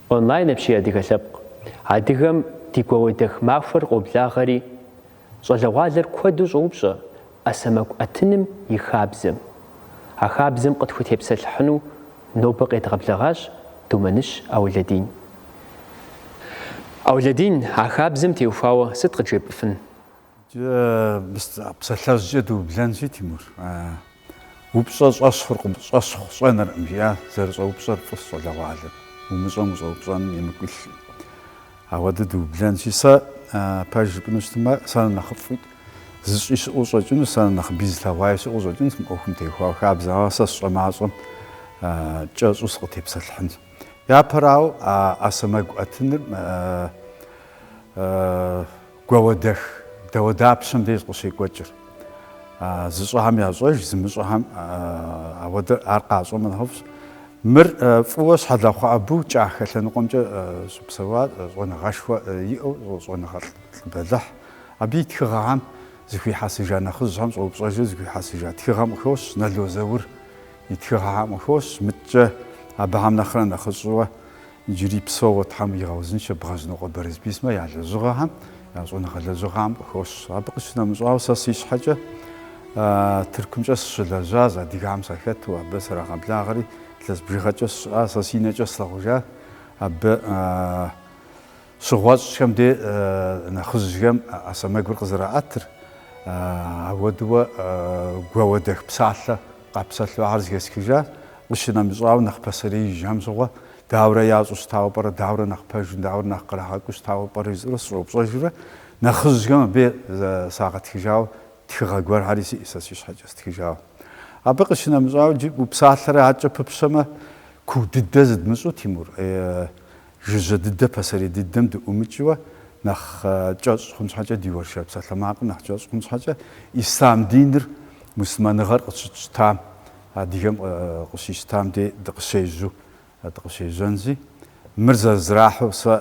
Онлайн апщий адыгэ лъэпкъ. Адыгэм ди гуауэдэх махуэр къоблагъэри, щӏалэгъуалэр куэду щӏоупщӏэ ӏэ сэмэгу ӏэтыным и хабзэм. А хабзэм къытхутепсэлъыхьыну нобэ къедгъэблэгъащ Думэныщ Аулэдин. Аулэдин, а хабзэм теухуауэ сыт къыджепӏыфын? Псалъэжькӏэ дыублэнщи, Тимур, упщӏэ щӏэщхъуркъым, щӏэщхъу щӏэнэркъым, жиӏа зэрыщӏэупщӏэр фӏыщ щӏалэгъуалэр, умыщӏэм ущӏэупщӏэным емыкӏу илъи. Ауэдэ дыублэнщи, сэ пэж жыпӏэну щытмэ, сэ нэхъыфӏу зыщӏи щыӏэу щӏэкӏыну, сэ нэхъыбэ зылъэгъуаи щыӏэу щӏэкӏынщ мы ӏуэхум теухуауэ, хабзэ, ауэ сэ сщӏэ мащӏэм кӏэщӏу сыкъытепсэлъыхьынщ. Япэрауэ, ӏэ сэмэгу ӏэтыныр Гуауэдэх, дауэдапщэм деж къыщекӏуэкӏыр. Зыщӏэхэм ящӏэж, зымыщӏэхэм ауэдэ, ар къащӏэмэ нэхъыфӏщ. Мыр фӏыуэ Щхьэлахъуэ Абу кӏахэ лъэныкъуэмкӏэ щыпсэуа щӏэныгъэшхуэ иӏэу щӏэныгъэлӏ бэлыхь. Абы и тхыгъэхэм зыхуихьэсыжа нэхъыжьхэм щӏэупщӏэжурэ зыхуихьэсыжа тхыгъэм къыхощ, Нало Заур и тхыгъэхэм къыхощ, мыткӏэ абыхэм нэхърэ нэхъыщӏыуэ Иджыри псэууэ Тхьэм игъэузыншэ Бгъэжьныкъуэ Бэрэсбий сымэ я лэжьыгъэхэм, я щӏэныгъэ лэжьыгъэхэм къыхощ. Абы къыщынэмыщӏауэ, сэ си щхьэкӏэ Тыркумкӏэ сыщылэжьащ, адыгэм сахэту, абы срагъэблагъэри, илъэс бжыгъэкӏэ сщыӏащ, сэ си нэкӏэ слъэгъужа, абы Щыгъуэщӏхэм де нэхъыжьхэм ӏэ сэмэгур къызэраӏэтыр, ауэдууэ гуауэдэх псалъэ къапсэлъу ахэр зыхесхыжа, къыщынэмыщӏауэ нэхъ пасэреижьхэм щыгъуэ, дауэрэ ящӏу щытауэ пӏэрэ, дауэрэ нэхъ пэжу, дауэрэ нэхъ кърагъэкӏуу щытауэ пӏэрэ жысӏэурэ сыщӏэупщӏэжурэ, нэхъыжьхэм абы сагъэтхыжауэ, тхыгъэ гуэрхьэри сиӏ сэ си щхьэкӏэ стхыжауэ. Абы къыщынэмыщӏауэ, джы упсалъэрэ адэкӏэ пыпщэмэ, куу дыдэ зыдмыщӏу, Тимур, Жыжьэ дыдэ пасэрей дыдэм дыӏумыкӏыуэ нэхъ кӏэщӏ хъун щхьэкӏэ, ди уэршэр псалъэмакъым нэхъ кӏэщӏ хъун щхьэкӏэ, ислъам диныр, муслъымэныгъэр къыщытщтам, адыгэм къыщищтам дей дыкъыщежьэу, дыкъыщежьэнзи, мыр зэрызэрахьэу сэ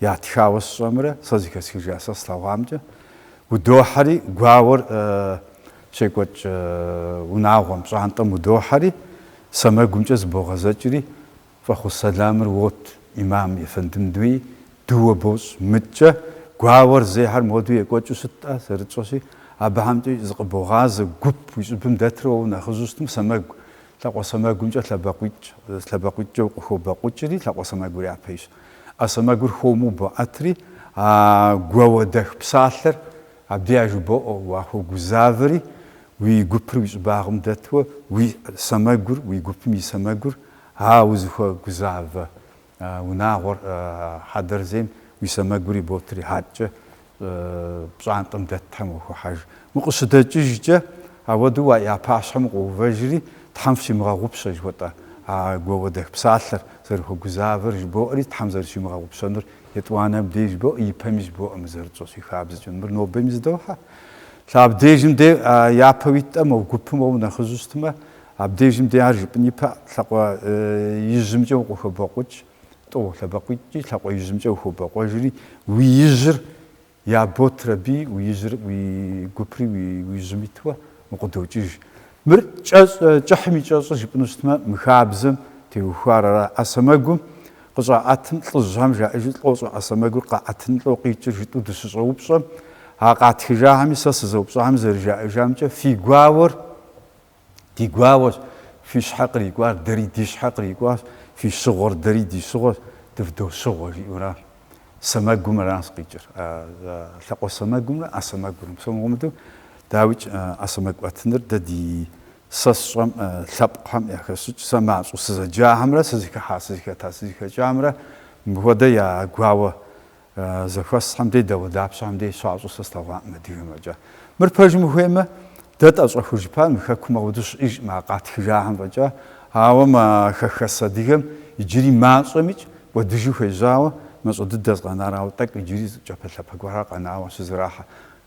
ятхауэ сщӏэмрэ сэ зыхэсхыжа сэ слъэгъуамкӏэ, удохьэри, гуауэр щекӏуэкӏ унагъуэм, пщӏантӏэм удохьэри, сэмэгумкӏэ зыбогъэзэкӏри, Фӏэхъус сэлэмыр уот, имам ефэндым дей, дыуэ бощӏ, мыткӏэ, гуауэр зейхэр моду екӏуэкӏыу щыт-тӏэ, зэрытщӏэщи, абыхьэмкӏэ зыкъыбогъазэ гуп уи щӏыбым дэтрэ уэ унэхъыжьу щытмэ, сэмэгу, лъакъуэ сэмэгумкӏэ лъэбакъуитӏ, лъэбакъуитӏкӏэ укъыхобэкъукӏри, лъакъуэ сэмэгур япэйщ. Ӏэ сэмэгур хуэму боӏэтри, а гуауэдэх псалъэр абдей яжыбоӏэ, уахуэгузавэри, уи гупыр уи щӏыбагъым дэтуэ, уи сэмэгур, уи гупым и сэмэгур А узыхуэгузавэ унагъуэр хьэдэр зейм уи сэмэгур иботри хьэкӏэ пщӏантӏэм дэтхэм уахохьэж. Укъыщыдэкӏыжкӏэ ауэдэу а я пащхьэм укъыувэжри, Тхьэм фщимыгъэгъупщэ, жыхуэтӏэ а гуауэдэх псалъэр, зэрыхуэгузавэр жыбоӏэри, Тхьэм зэрыщимыгъэгъупщэнур етӏуанэм деж жыбоӏэ, ипэми жыбоӏэ мы зэрытщӏэщи хабзэкӏэ. Мыр нобэми зыдохьэ. Лъэ абдежым де япэ уитӏэ, мо гупым уэ унэхъыжьу щытмэ, Абдежым де ар жыпӏын ипэ лъакъуэ ижьымкӏэ укъыхобэкъукӏ, тӏу, лъэбэкъуитӏкӏи лъакъуэ ижьымкӏэ ухобэкъуэжри, уи ижьыр яботыр аби, уи ижьыр, уи гупри уи ижьым иту укъыдокӏыж. Мыр кӏыхьым и кӏэщӏыр жыпӏыну щытмэ, мы хабзэм теухуар ара? ӏэ сэмэгум къыщӏаӏэтым лӏыжьхэм жаӏэжу лӏощӏэ, ӏэ сэмэгур къаӏэтыным лӏо къикӏыр жытӏу дыщыщӏэупщӏэм, а къатхыжахэми сэ сызэупщӏахэм зэрыжаӏэжамкӏэ, фи гуауэр Ди гуауэщ, фи щхьэ кърикӏуар, дэри ди щхьэ кърикӏуащ, фи щыгъуэр, дэри ди щыгъуэщ, дывдощыгъуэ, жиӏэурэ, сэмэгум аращ къикӏыр, лъакъуэ сэмэгумрэ ӏэ сэмэгумрэ. Псом хуэмыдэу, дауикӏ, ӏэ сэмэгу ӏэтыныр дэ ди сэ сщӏэм, лъэпкъхэм яхэсщӏыкӏ, сэ мащӏэу сызэджахэмрэ сызыхыхьа, сызыхэта, сызыхэкӏамрэ мыпхуэдэ я гуауэ Зэхуэсхэм де, дауэдапщэхэм де щащӏу сэ слъэгъуакъым адыгэм фӏэкӏа. Мыр пэжым ухуеймэ, дэ тӏэщӏэхужыпар мы хэкум ауэдэу щыӏэжкъым а къатхыжахэм фӏэкӏа, ауэ мы хэхэс адыгэм иджыри мащӏэмикӏ кӏуэдыжу хуежьауэ, мащӏэ дыдэщ къэнар, ауэ тӏэкӏу иджыри зы кӏапэлъапэ гуэрхэр къэнауэ щызэрахьэ.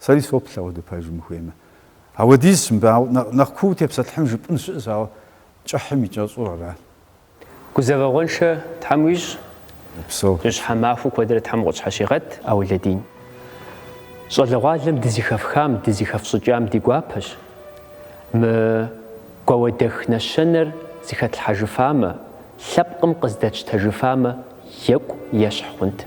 Сэри соплъ ауэдэ пэжым ухуеймэ. Ауэдизщ мыбы нэхъ куу тепсэлъыхьын жыпӏэн щыӏэщ, ауэ кӏыхьым и кӏэщӏур арат. Гузэвэгъуэншэ Тхьэм уищӏ, Упсэу. Жьыщхьэ махуэ куэдрэ Тхьэм укъытщхьэщигъэт, Ӏэулэдин. Щӏалэгъуалэм дызыхэфхам, дызыхэфщӏыкӏам ди гуапэщ. Мы гуауэдэх нэщэнэр зыхэтлъхьэжыфамэ, лъэпкъым къыздэтщтэжыфамэ, екӏу ещхь хъунт.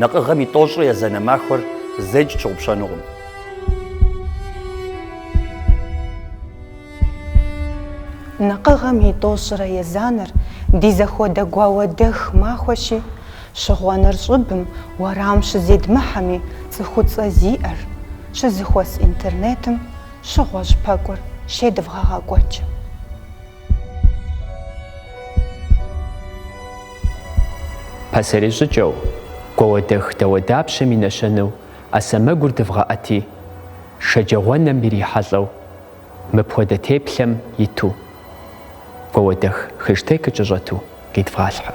Нэкъыгъэм и тӏощӏрэ езанэ махуэр зэикӏ тщыгъупщэнукъым. Нэкъыгъэм и тӏощӏрэ езанэр ди зэхуэдэ гуауэдэх махуэщи, щыгъуэныр щӏыбым, уэрам щызедмыхьэми, цӏыхуцӏэ зиӏэр щызэхуэс интернетым щыгъуэщ пэкӏур щедывгъэгъэкӏуэкӏ. Пасэрей щӏыкӏэу, гуауэдэх дауэдапщэм и нэщэнэу ӏэ сэмэгур дывгъэӏэти, шэджагъуэнэм ирихьэлӏэу, мыпхуэдэ теплъэм иту, гуауэдэх хэштегыр кӏэщӏэту къидвгъалъхьэ.